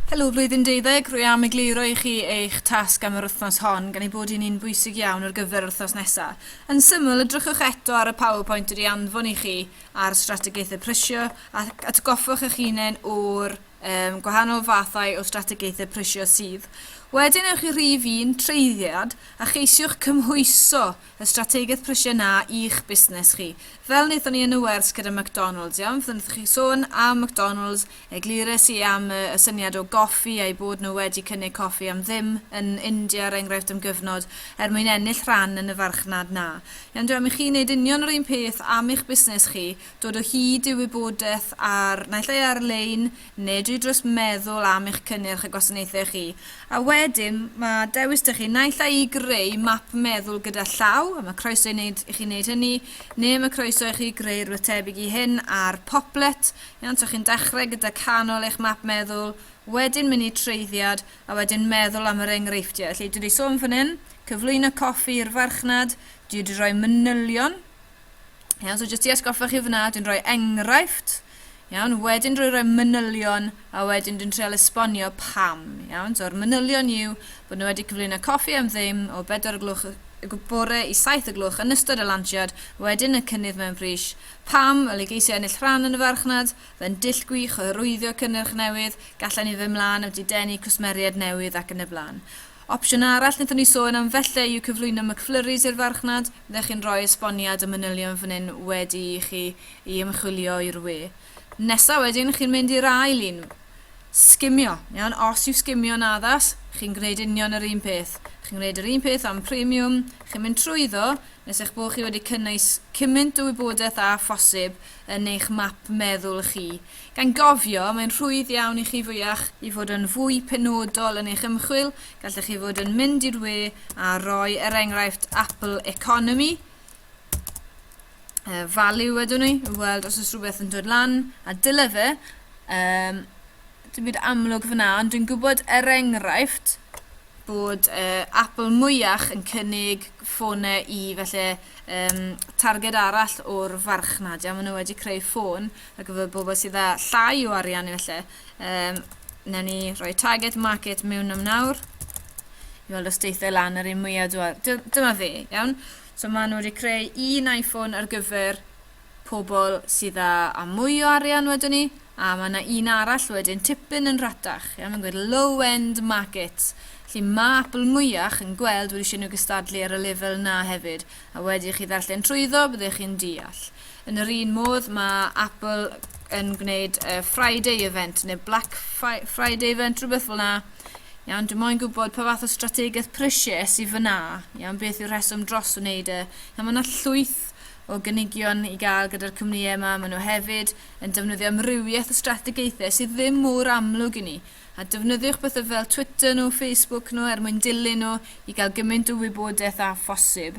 Helo Flwyddyn Deuddeg, rwy am egluro i chi eich tasg am yr wythnos hon, gan ei bod hi'n un bwysig iawn ar gyfer yr wythnos nesaf. Yn syml, edrychwch eto ar y PowerPoint wedi anfon i chi ar strategaethau prysio ac atgoffwch eich hunain o'r um, gwahanol fathau o strategaethau prysio sydd. Wedyn ewch i rhif un, treiddiad, a cheisiwch cymhwyso Y strategaeth prisiau 'na i'ch busnes chi. Fel wnaethon ni yn y wers gyda McDonalds, iawn? Fydden wrth chi sôn am McDonalds, eglures i am y, y syniad o goffi a'u bod nhw wedi cynnig coffi am ddim yn India, er enghraifft, am gyfnod, er mwyn ennill rhan yn y farchnad 'na. Iawn, dw am i chi wneud union yr un peth am eich busnes chi, dod o hyd i wybodaeth ar, naill ai ar-lein, nid yw dros meddwl am eich cynnyrch a gwasanaethau chi, a wedyn mae dewis 'da chi, naill ai i greu map meddwl gyda llaw, a mae croeso i, wneud, i chi wneud hynny, neu mae croeso i chi greu rhywbeth tebyg i hyn ar Poplet, iawn, so chi'n dechrau gyda canol eich map meddwl, wedyn mynd i treiddiad, a wedyn meddwl am yr enghreifftiau. Felly, dwi wedi sôn fan hyn, cyflwyno coffi i'r farchnad, dwi wedi rhoi manylion, Iawn, so jyst i esgoffa chi fyna, dwi'n rhoi enghraifft, iawn, wedyn rhoi rhoi manylion, a wedyn dwi'n treol esbonio pam, iawn. So'r manylion yw bod nhw wedi cyflwyno coffi am ddim o 4 o glwch y bore i 7 o glwch yn ystod y lansiad, wedyn y cynnydd mewn pris, pam y geisio ennill rhan yn y farchnad, fe'n dull gwych o hyrwyddio cynnyrch newydd, gallan ni fy mlaen wedi denu cwsmeriaid newydd ac yn y blaen. Opsiwn arall wnaethon ni sôn am felly yw cyflwyno McFlurries i'r farchnad, fyddech chi'n rhoi esboniad a manylion fan hyn wedi i chi i ymchwilio i'r we. Nesa wedyn chi'n mynd i'r ail un, sgimio, iawn, os yw sgimio'n addas, chi'n gwneud union yr un peth. Chi'n gwneud yr un peth am Premium, chi'n mynd trwyddo nes eich bod chi wedi cynnwys cymaint o wybodaeth â phosib yn eich map meddwl chi Gan gofio, mae'n rhwydd iawn i chi fwyach. I fod yn fwy penodol yn eich ymchwil, gallech chi fod yn mynd i'r we a roi er enghraifft Apple Economy, uh, value wedwn ni, i weld os oes rhywbeth yn dod lan, a dyle fe, um, dim byd amlwg fyna, ond dwi'n gwybod er enghraifft bod uh, Apple mwyach yn cynnig ffonau i felly um, targed arall o'r farchnad. Ia, maen nhw wedi creu ffôn ar gyfer bobl sydd â llai o arian efallai. Um, Newn ni roi target market mewn am nawr i weld os deithiau lan yr un mwyaf dwa. Dyma fe, iawn. So maen nhw wedi creu un iPhone ar gyfer pobl sydd â, a mwy o arian wedyn ni, a mae yna un arall wedyn tipyn yn rhatach. Iawn, mae'n gwneud low-end market. Felly mae Apple mwyach yn gweld wedi eisiau nhw gystadlu ar y lefel na hefyd. A wedi i chi ddarllen trwyddo, byddech chi'n deall. Yn yr un modd, mae Apple yn gwneud uh, Friday event neu Black Friday event, rhywbeth fel yna. Iawn, dwi'n moyn gwybod pa fath o strategaeth prisiau sydd fyna. Iawn, beth yw'r rheswm dros wneud e. Iawn, mae yna llwyth o gynigion i gael gyda'r cwmnïau yma. Maen nhw hefyd yn defnyddio amrywiaeth o strategaethau sydd ddim mor amlwg i ni. A defnyddiwch bethau fel Twitter nhw, Facebook nhw er mwyn dilyn nhw i gael gymaint o wybodaeth â phosib.